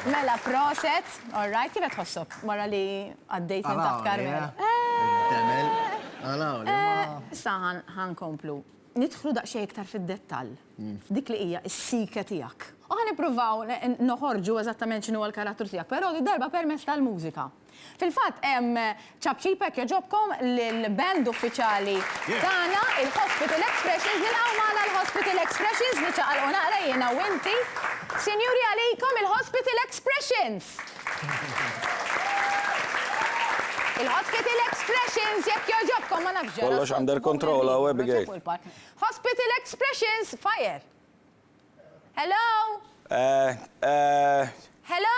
Mela, proset. All right, kif qed tħossok wara li għaddejt minn taħt Karmela? Demel. Għalaw, le ma. Issa ħankomplu. Nidħlu daqsxejn iktar fid-dettall. Dik li hija s-sike tiegħek. U ħanippruvaw noħorġu eżattament x'inhu l-karattru tiegħek, però darba permezz tal-mużika. Fil-fatt, ċapċip hekk jogħġobkom lill-band uffiċjali tagħna, il-Hospital Expressions. Nilqgħu magħna l-Hospital Expressions, niċċaqalqu naqra jiena u inti. Sinjuri għalikom il-Hospital Expressions! Il-Hospital Expressions, jekk jogħġobkom, ma nafx ġara. Kollox under control hawn, Abigail. Hospital Expressions, fire! Hello! Hello!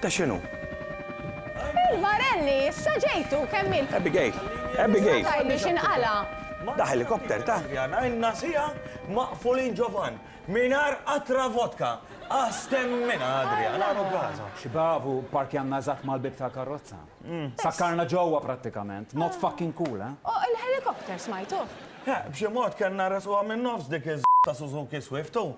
Ta' x'inhu? Il-barelli, issa ġejtu, kemm il. Abigail! Abigail! Sa tajli x'inqala'. Da ħelikopter ta. Għana ilna siegħa maqfulin ġo vann, mingħajr qatra vodka! Astemmina, Adrian, għanu Gaza! Xi bravu, pparkjanna eżatt mal-bieb tal-karrozza. Sakkarna ġewwa prattikament. Not fucking cool, eh? O, il-ħelikopter, smajtuh? Heh, b'xi mod kellna nresquha min-nofs dik iż ta' Suzuki Swift, u.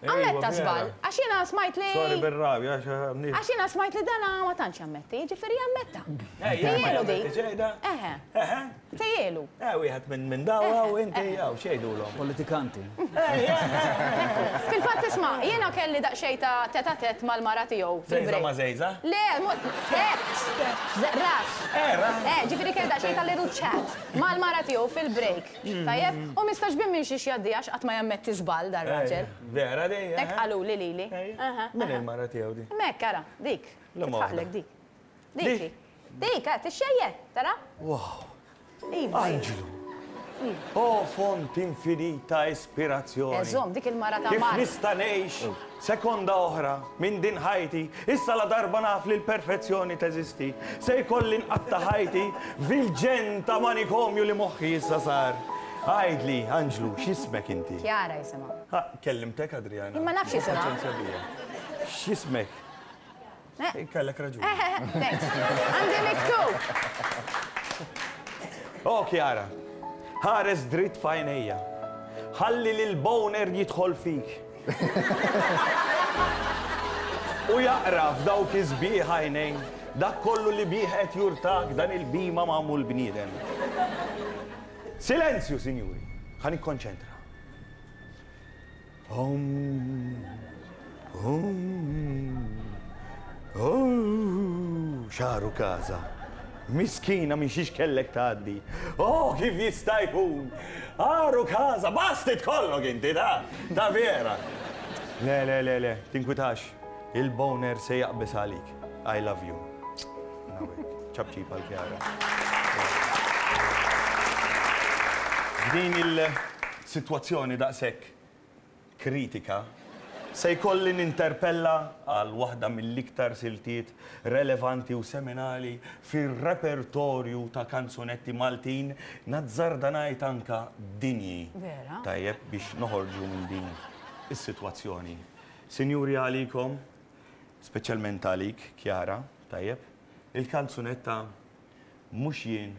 Ammetta żball, għax jiena smajt li. Sorry bir-rabja għax għamliet. Għax jiena smajt li dan ma tantx jammetti, jiġifieri jammetta. Tejjielu din. Eħe. Eħe. Tejjielu. Eh wieħed minn dawl hawn inti hawn x'jgħidulhom. Politikanti. Fil-fatt isma', jiena kelli daqsxejn ta' tête à tête mal-mara tiegħu. Żgħiżagħ ma' żgħiżagħ? Le, ras. Eh, ġifieri kelli daqsxejn ta' little chat mal-mara tiegħu fil-break. Tajjeb? U mistax bim minn xiex jgħaddi għax qatt ma jammetti żball dar raġel. Vera di? Hekk qaluli lili. Min hi l-mara tiegħu di? Hekk ara, dik. Titħaqlek dik. Dik. Dik, ha, tixxejjer, tara? Wow. Iva. Anġlu. O font infinita ispirazzjoni. Eżomm, dik il-mara ta' Mark. Kif nista' ngħix? Sekonda oħra, minn din ħajti, issa ladarba naf li l-perfezzjoni teżisti, se jkolli nqatta' ħajti f'ilġenn ta' manikomju li moħħi issa sar. Għidli, anġlu, x'ismek inti? Chiara jisimha. Ha, kellimtek, Adriana. Jien ma nafx isimha. Paċenzja bija. X'ismek? Kellek raġun. Għandi miktub. Oh, Kiara, ħares dritt fajnejja. Ħalli li l-boner jidħol fik. U jaqra f'dawk iż-żbieħ għajnejn dak kollu li bih qed jurtak dan il-bima magħmul bniedem. Silenzju, sinjuri, ħan ikkonċentra. Xagħru każa. Miskina minn xiex kellek tgħaddi. Oh, kif jista' jkun! Għaru każa, basti tkollok inti ta' ta' vera. Le, le, le, le, tinkwitax. Il-boner se jaqbeż għalik. I love you. Ċapċip għal Kjara. F'din il-sitwazzjoni daqshekk kritika, se jkolli ninterpella għal waħda mill-iktar siltiet relevanti u seminali fir-repertorju ta' kanzunetti Maltin, nazzarda ngħid anke dinji, tajjeb biex noħorġu minn din is-sitwazzjoni. Sinjuri għalikom, speċjalment għalik Chiara, tajjeb, il-kanzunetta Mhux Jien